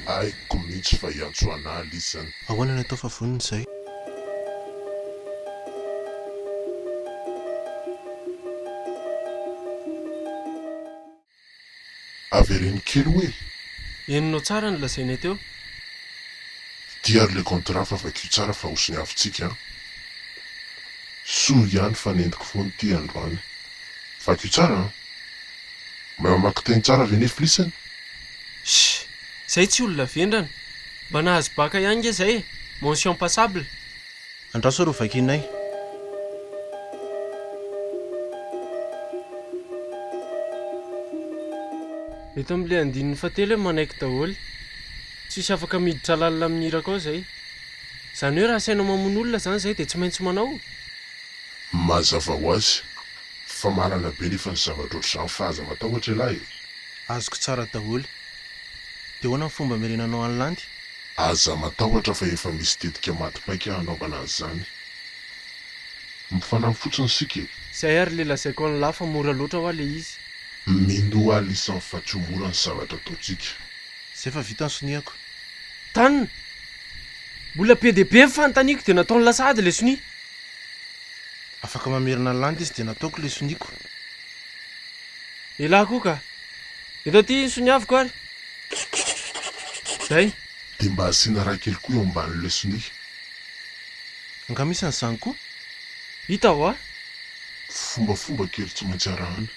Aiko mintsy fa i Antsoanala izy zany. Ahoana no atao fa vonona izay? Avereno kely oe! Eny no tsara ny lazainay teo. Dia ary le contrat fa vakio tsara fa ho soniavintsika an! Soa ihany fa nentiko foana ity androany. Vakio tsara an! Mamaky teny tsara ve neflisany? Shh! Zay tsy olona vendrana. Mba nahazo baka ihany nge zay e! Mention passable. Andraso ary ho vakianay. Eto amin'ilay andininy fahatelo hoe manaiky daholo. Tsisy afaka miditra lalina amin'ny hiraka ao izay. Izany hoe raha asainao mamono olona izany izay dia tsy maintsy manao? Mazava ho azy. Fa marina be nefa ny zavatra ohatr'izany fa aza matahotra ialahy e! Azoko tsara daholo. Dia ahoana ny fomba hamerenanao an'i Landy? Aza matahotra fa efa misy tetika maty paika hanaovana an'izany. Mifanampy fotsiny isika e! Zay ary le lazaiko an'i Lah fa mora loatra hoa le izy. Minoa aho lisany fa tsy ho mora ny zavatra ataontsika. Zay fa vita ny sonihako. Tan! Mbola be dia be ny fanontaniako dia nataon'i Lah sahady le sonia. Afaka mamerina ny landy izy dia nataoko ilay soniako. Elah koa ka! Eto aty ny soniaviko ary! Zay! Dia mba asiana raha kely koa eo ambanin'ilay sonia. Angaha misy an'izany koa? Hita hoa! Fombafomba kely tsy maintsy arahana.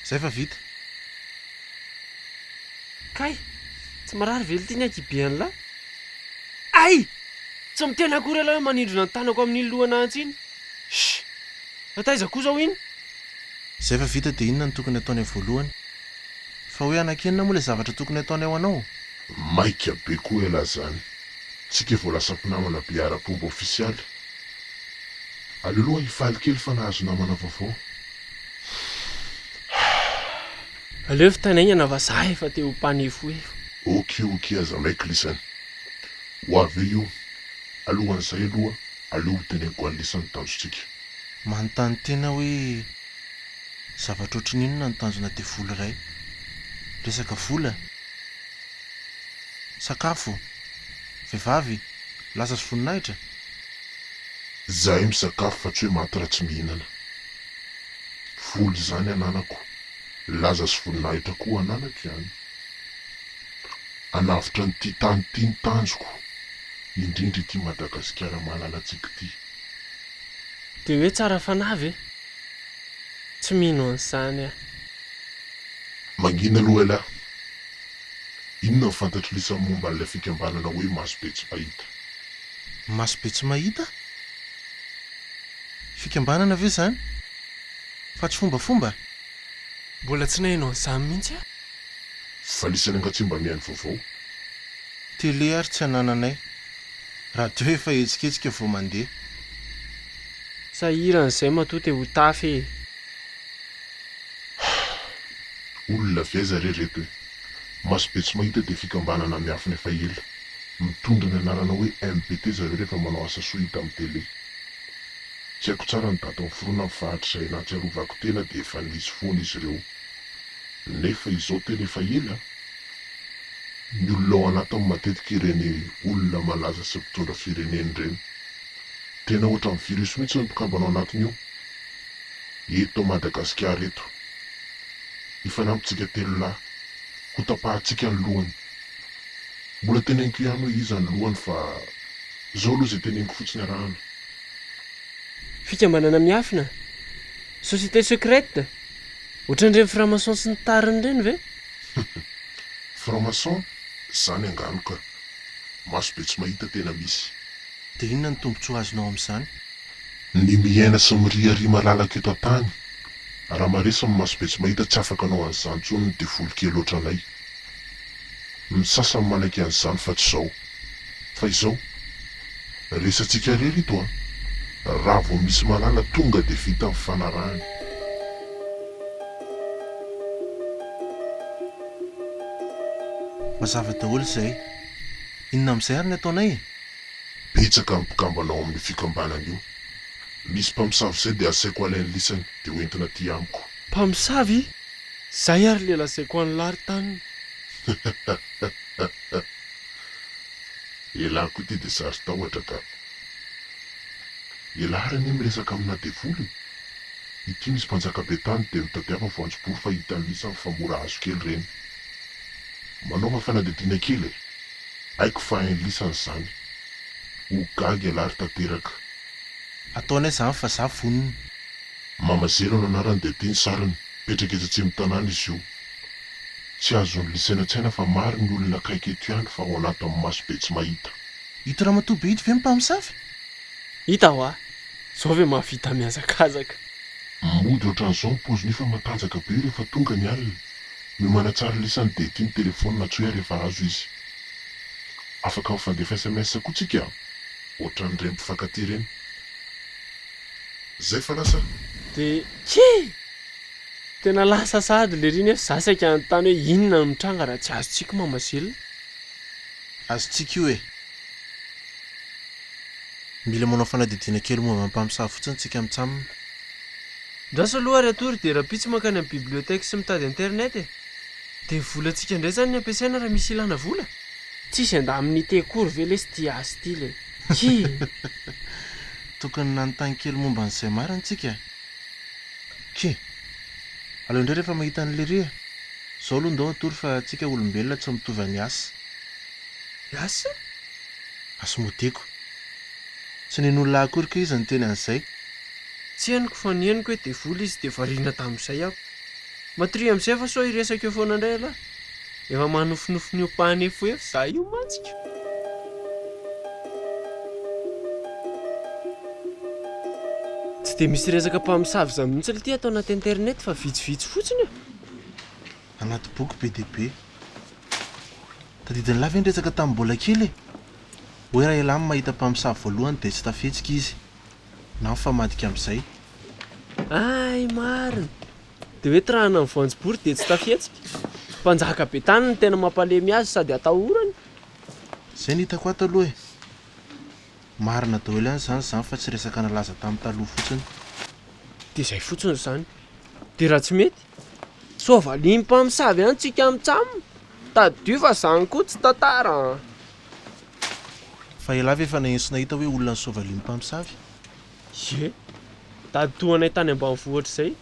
Zay fa vita! Kay! Tsy marary ve ity ny ankihibe an'lah? Ay! Tsy miteny akory ialahy hoe manindrona ny tanako amin'iny lohana antsy iny. Shh! Na taiza koa izao iny? Izay efa vita dia inona no tokony hataony amin'ny voalohany? Fa hoe hanankenina moa ilay zavatra tokony hataony ao anao? Maika be koa ialahy izany. Tsika vao lasa mpinamana be ara-pomba ofisialy. Aleo aloha hifaly kely fa nahazo namana vaovao. Aleo fitanaingana fa za efa te ho mpanefoefo. Ok ok aza maikl izany. Ho avy eo io. Alohan'izay aloha aleo ho teneniko an'lisa ny tanjontsika. Manontany tena hoe zavatra ohatran'ny inona no tanjona devoly iray? Resaka vola? Sakafo? Vehivavy? Lasa sy voninahitra? Zahay misakafo fa tsy hoe maty raha tsy mihinana. Vola izany ananako Laza sy voninahitra koa ho an'anako ihany. Hanavotra an'ity tany ity ny tanjoko, indrindra ity Madagasikara malalantsika ity. Dia hoe tsara fanahy ve? Tsy mino an'izany aho. Mangina aloha ialahy. Inona ny fantatr'i Lisa momba an'ilay fikambanana hoe Maso be tsy mahita? Maso be tsy mahita? Fikambanana ve izany? Fa tsy fombafomba? Mbola tsy naheno an'izany mihitsy aho. Fa nisy rangahy tsy mba mihaino vaovao. Télé ary tsy anananay. Radio efa hetsiketsika vao mandeha. Sahirana izay matoa te ho tafy e! Hah! Olona avy aiza re reto e! Maso be tsy mahita dia fikambanana miafina efa ela. Mitondra ny anarana hoe MPT zareo rehefa manao asa soa hita amin'ny télé. Tsy haiko tsara ny datin'ny fironany fa hatrizay nahatsiarovako tena dia efa nisy foana izy ireo. Nefa izao tena efa ela an! Ny olona ao anatiny matetika ireny olona malaza sy mpitondra firenena ireny. Tena ohatran'ny virus mihitsy ny mpikambana ao anatiny io. Eto Madagasikara eto. Hifanampintsika telo lahy. Hotapahantsika ny lohany. Mbola teneniko ihany hoe iza ny lohany fa izao aloha izay teneniko fotsiny arahana. Fikambanana miafina? Société secrète? Ohatran'ireny franc-maçon sy ny tariny ireny ve? Franc-maçon? Izany angano ka! Maso be tsy mahita tena misy. Dia inona ny tombontsoa azonao amin'izany? Ny miaina sy miriaria malalaka eto an-tany. Raha maresy ny maso be tsy mahita tsy afaka hanao an'izany intsony ny devoly kely ohatranay. Ny sasany manaiky an'izany fa tsy izao. Fa izao. Resatsika irery ito an! Raha vao misy malala tonga dia vita ny fanarahana. Mazava daholo izay. Inona amin'izay ary ny ataonay e? Betsaka ny mpikambana ao amin'io fikambanana io. Misy mpamosavy izay dia asaiko alainy lisany dia hoentina aty amiko. Mpamosavy? Zay ary le lazaiko an'i lary taniny. Elah koa ity dia saro-tahotra ka. Elah ary anie miresaka amina devoly. Ity misy mpanjaka be tany dia mitadiava voanjobory fa hita an'isany fa mora azo kely ireny. Manaova fanadihadiana kely e. Haiko fa hain'i lisany izany. Ho gaga elah ry tanteraka. Ataonay izany fa za vonona. Mama Zero no anarany dia ity ny sariny, mipetraka etsy atsimon'ny tanàna izy io. Tsy azony lisainatsaina fa maro ny olona akaiky eto ihany fa ao anatin'ny maso be tsy mahita. Ito ramatoa be ito ve ny mpamosavy? Hita hoa! Zao ve mahavita mihazakazaka? Mody ohatran'izao ny paoziny io fa matanjaka be io rehefa tonga ny alina. Miomana tsara lisany dia ity ny telefaoniny antsoy ahy rehefa azo izy. Afaka mifandefa sms koa tsika a! Ohatran'ireny mpifankatia ireny. Zay fa lasa. De kii! Tena lasa sahady lery iny a! Za saika hanontany hoe inona no mitranga raha tsy azontsika mama Gilles? Azontsika io e! Mila manao fanadihadiana kely momba ny mpamosavy fotsiny tsika mitsam. Andraso aloha ary atory dia rahampitso mankany amin'ny bibliothèque sy mitady internet e! Dia volantsika indray zany ny ampiasaina raha misy ilana vola? Tsisy andamin'ny ity akory ve lesy ity azy ity le. Tokony nanontany kely momba an'i Zemar ntsika eh. Tchie. Aleo indray rehefa mahita an'i Lery eh. Zao aloha ndao hatory fa tsika olombelona tsy mitovy an'i As. As? As Modeko. Tsy nen'olona akory kay izy niteny an'izay. Tsy henoko fa ny henoko hoe devoly izy dia variana tamin'izay aho. Matoria amin'izay fa sao hiresaka eo foana indray ialahy. Efa manofinofy miompahanefoefo za io mantsy ka. Tsy dia misy resaka mpamosavy izany mihitsy lty ato anaty internet fa vitsivitsy fotsiny e. Anaty boky be dia be. Tadidin'lah ve ny resaka tamin'ny mbola kely e? Hoe raha ialahy no mahita mpamosavy voalohany dia tsy tafihetsika izy. Na mifamadika amin'izay. Hay marina! Dia hoe tirana ny voanjobory dia tsy tafihetsika? Mpanjaka be tany no tena mampalemy azy sady atahorany. Zay ny hitako ato aloha e! Marina daholo ihany izany izany fa tsy resaka nalaza tamin'ny taloha fotsiny. Dia izay fotsiny izany. Dia raha tsy mety? Sao valian'ny mpamosavy ihany tsika mitsam? Tadidio fa izany koa tsy tantara an! Fa elah ve efa naheno sy nahita hoe olona ny soavalin'ny mpamosavy? Ye! Tady toa anay tany ambanivohitra izay.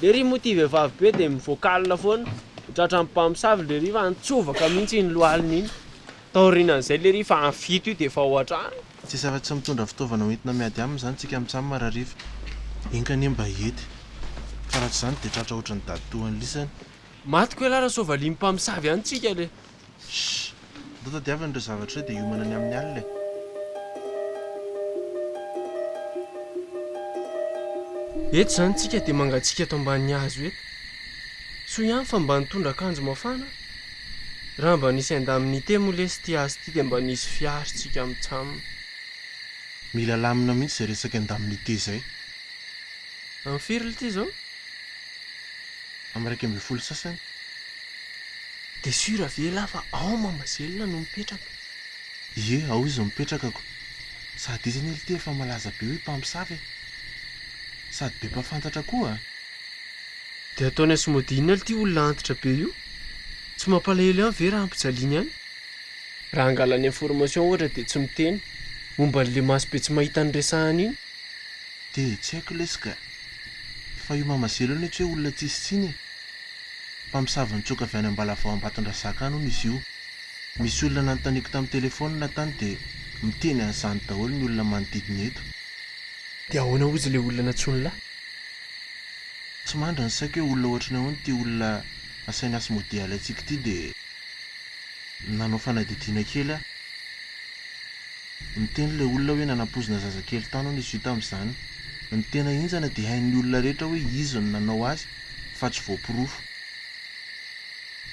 Lery moa ity vehivavy be dia mivoakalina foana, tratran'ny mpamosavy lery fa nitsovaka mihitsy iny lohaliny iny. Taorianan'izay lery fa any fito io dia efa ao an-trano. Tsisy afa-tsy mitondra fitaovana hoentina miady aminy izany tsika mitsam marariva. Enga anie mba hiety. Fa raha tsy izany dia tratra ohatran'ny dady toa an'lisany. Maty koa elah raha soavalin'ny mpamosavy any tsika le. Shh! Ndao tadiavina ireo zavatra ireo dia hiomana ny amin'ny alina e! Eto izany tsika dia mangatsiaka eto ambanin'ny hazo eto. Soa ihany fa mba nitondra akanjo mafana. Raha mba nisy indemnité moa lesy ity hazo ity dia mba nisy fiaro tsika amin'ny tsaminy. Mila alamina mihitsy izay resaka indemnité izay. Amin'ny firy ity izao? am iraika ambin'ny folo sasany de sur ve lah fa ao Mahamasina no mipetraka? Ie ao izy no mipetraka ko sady izy anie lite efa malaza be hoe mpamosavy e! Sady be mpafantatra koa! De ataony azy mody inona lty olona antitra be io? Tsy mampalahelo ihany ve raha ampijaliany any? Raha angalany information ohatra de tsy miteny momba anle maso be tsy mahita ny resahany iny? De tsy haiko lesy ka! Fa io mama zero io anie tsy hoe olona tsisy tsiny e! Mpamosavy nitsoaka avy any Ambalavao Ambatondrazaka any hono izy io. Misy olona nanontaniako tamin'ny telefaonina tany dia miteny an'izany daholo ny olona manodidina eto. Dia ahoana hozy ilay olona nantsoin'lah? Tsy mandry ny saiko hoe olona ohatran'ny ahoana ity olona asainy hasmodialy antsika ity dia nanao fanadihadiana kely aho. Niteny ilay olona hoe nanapoizina zazakely tany hono izy io tamin'izany. Ny tena henjana dia hain'ny olona rehetra hoe izy no nanao azy fa tsy voaporofo.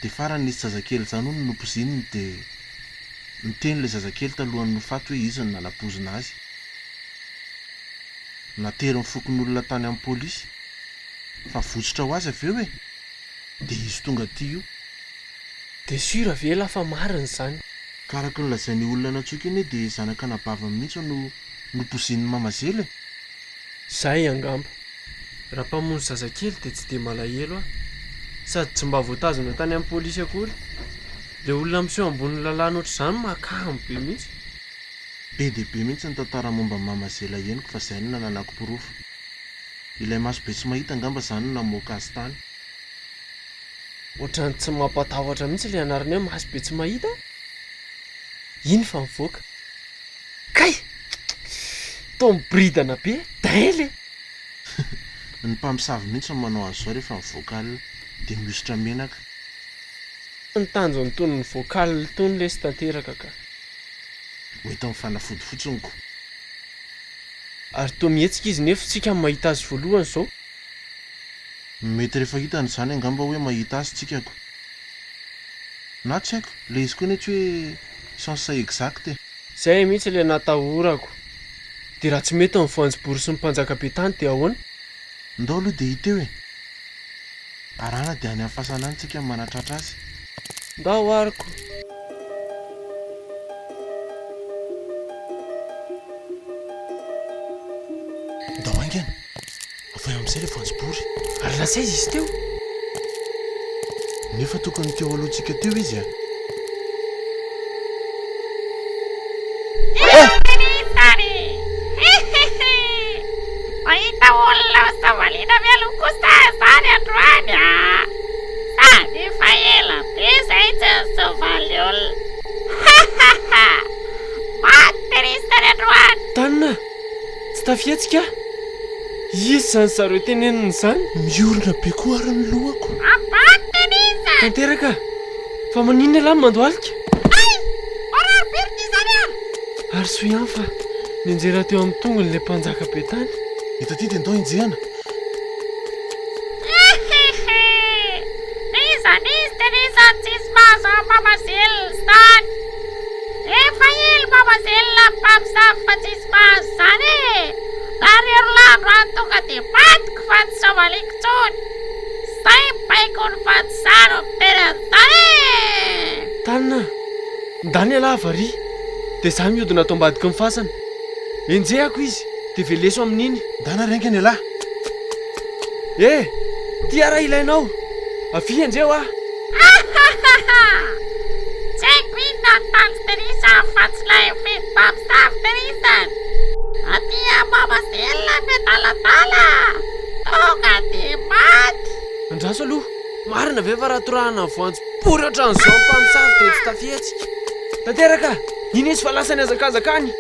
Dia farany nisy zazakely izany hono nopozininy dia niteny ilay zazakely talohan'ny ho faty hoe izy no nanapoizina azy. Natery ny fokonolona tany amin'ny polisy. Fa votsotra ho azy avy eo e! Dia izy tonga aty io. Dia sûr ve la fa marina izany? Ka araka ny lazain'io olona nantsoiko io anie dia zanak'anabaviny mihitsy no nopozin'i Mama Zela e! Zay angamba. Raha mpamonjy zazakely dia tsy dia malahelo aho. Sady tsy mba voatazona tany amin'ny polisy akory. Ilay olona miseho ambonin'ny lalàna ohatr'izany makamo be mihitsy. Be dia be mihitsy ny tantara momba an'i Mama Zela henoko fa izay no nananako porofo. Ilay maso be tsy mahita angamba izany no namoaka azy tany. Ohatran'ny tsy mampatahotra mihitsy ilay anarana hoe maso be tsy mahita a! Iny fa mivoaka. Kay! Toa miboridana be, dain le! Ny mpamosavy mihitsy no manao azy izao rehefa mivoaka alina dia mihosotra menaka. Tsy ny tanjony tony nivoaka alina tony lesy tanteraka ka. Mety mifanafody fotsiny ko. Ary toa mihetsika izy nefo tsika mahita azy voalohany izao. Mety rehefa hitany izany angamba hoe mahita azy tsika ko. Na tsy haiko, ilay izy koa anie tsy hoe sens exact e. Zay mihitsy le natahorako. De raha tsy mety ny voanjobory sy ny mpanjaka be tany de ahoana? Ndao aloha dia hita eo e! Arahana dia any amin'ny fasana any tsika no manatratra azy. Ndao ary ko! Ndao haingana! Avy eo amin'izay ilay voanjobory ary lasa aiza izy teo? Nefa tokony teo alohantsika teo izy a! Mahita olona ao Savalina mialoha kosa izany androany a! Sady efa ela be izay tsy nisovaly olona. Maty ry sary androany! Tanina! Tsy tafihetsika aho. Iza izany zareo tenenina izany? Miorina be koa ary ny lohako. Tanteraka! Fa maninona ialahy no mandohalika? Hay! Marary be ry ty izany an! Ary soa ihany fa nianjera teo amin'ny tongony ilay mpanjaka be tany. Eto aty dia ndao enjehana. Iza n'izy dia n'iza no tsisy mahazo an'i Mama Zills tany? Efa ela Baba Zella mpamosavy fa tsisy mahazo izany e! Raha Rerolaandro any tonga dia vadiko fa tsy soavaliko intsony! Izay ny baiko ny fa tsy izaho no mitery an'izany e! Tana a! Ndany ialahy varihy dia izaho mihodina ato ambadiky ny fasana. Enjehako izy dia veleso amin'iny. Ndana renga ny ialahy! Eh! Ty ara ilainao! Avia enjeho aho! Hahahaha! Tsy haiko inona no tanjonterisa afatsy ilay vehivavy saronterisany! Aty amama sy ilay miadaladala! Tonga de maty! Andraso aloha! Marina ve fa raha torahana ny voanjo pory ohatran'izao ny mpamosavy dia tsy tafihetsika? Tanteraka! Iny izy fa lasa nihazakazaka any!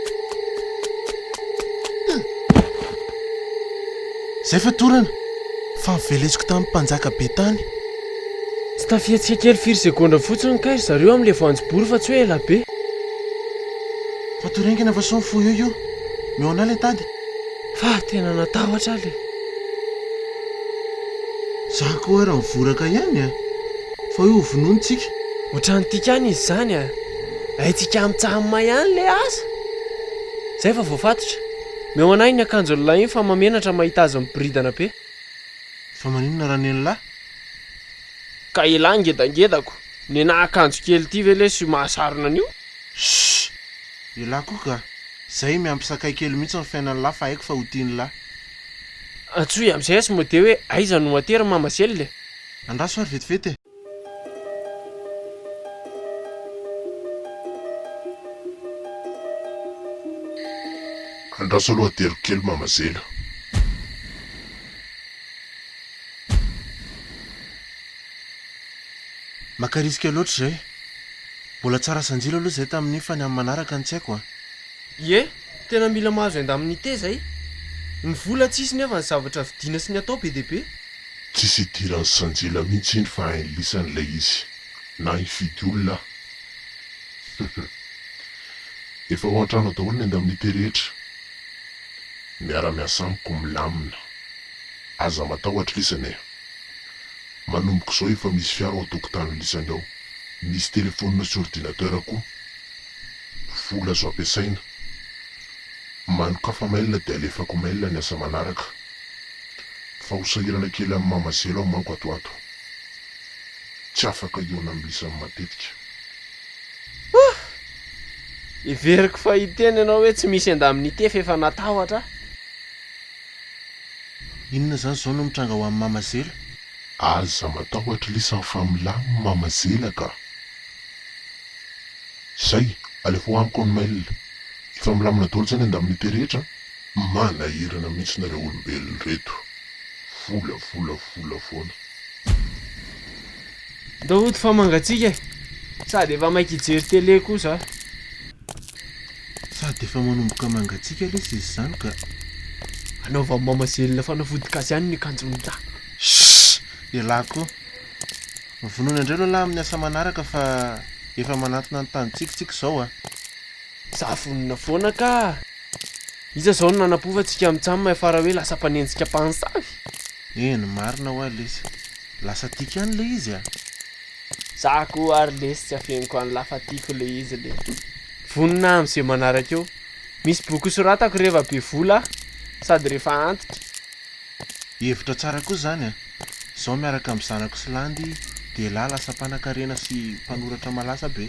Izay fatorana fa novelesiko tamin'ny mpanjaka be tany! Tsy tafiantsika kely firy segondra fotsiny kay ry zareo amin'ilay voanjobory fa tsy hoe ela be. Fatou rien que ny façon fou io io. Omeo anay ilay tady. Fa tena natahotra aho le. Za koa ary mivoraka ihany a! Fa hoe hovonoiny tsika. Ohatran'ny tiakany izy zany a! Haintsika mitsamma ihany le asa! Zay fa voafatotra. Omeo anay iny akanjon'ilay iny fa mahamenatra mahita azy miboridana be. Fa maninona ranelilahy? Ka elah ngedangedako, nenah akanjo kely ty ve lesy io mahasarona an'io? Shh! Elah koa ka! Zay miampy sakay kely mihitsy ny fiainan'i lah fa haiko fa ho tian'ilah. Antsoy amizay sy mode hoe aiza no aty ry mama Zely e! Andraso ary vetivety e! Andraso aloha ateriko kely mama Zely a! Maka risque loatra izay. Mbola tsara sanjila aloha izay tamin'iny fa ny amin'ny manaraka no tsy haiko an. Ie, tena mila mahazo indemnité izay. Ny vola tsisy nefa ny zavatra vidiana sy ny atao be dia be. Tsisy idiran'i sanjila mihitsy iny fa hainy lisany ilay izy. Na hifidy olona aza. Efa ao an-trano ao daholo ny indemnité rehetra. Miara-miasa amiko milamina. Aza matahotra lisany eh. Manomboka izao efa misy fiara ao an-tokotany lisany ao. Misy telephone sy ordinateur koa. Vola azo ampiasaina. Manokafa mail dia alefako mail ny asa manaraka. Fa ho sahirana kely amin'ny maha mazelo aho manko ato ato. Tsy afaka hihaona amin'ny lisany matetika. Ohh! Heveriko fa hiteny ianao hoe tsy misy endaminite f'efa natahotra aho. Inona zany zao no mitranga ho an'i Mama Zela? Aza matahotra lesy an fa milamina Mama Zela ka. Zay, alefa ho amiko ny mail. Efa milamina daholo zay ny indemnité rehetra an. Manahirana mihitsy nareo olombelona reto. Vola vola vola foana. Ndao hody fa mangatsiaka e. Sady efa maika hijery télé koa za. Sady efa manomboka mangatsiaka lesy izy izany ka. Anaovan'i mama zelina fanafody gasy ihany ny kanjon'i lahy. Shh! Elah ko. Vonoina indray aloha lahy amin'ny asa manaraka fa efa manantona ny tanintsika tsika izao a. Za vonona foana ka. Iza izao no nanapofa antsika mitsam miafara hoe lasa mpanenjika mpansavy? Eny marina hoa lesy. Lasa tiko ihany le izy a! Za koa ary lesy tsy afeniko any lafa tiko le izy le. Vonona amin ze manaraka eo. Misy boky ho soratako reva be vola aho sady refa antitra. Hevitra tsara kosa zany a! Zao miaraka am zanako sy landy de lah lasa mpanakarena sy mpanoratra malasa be.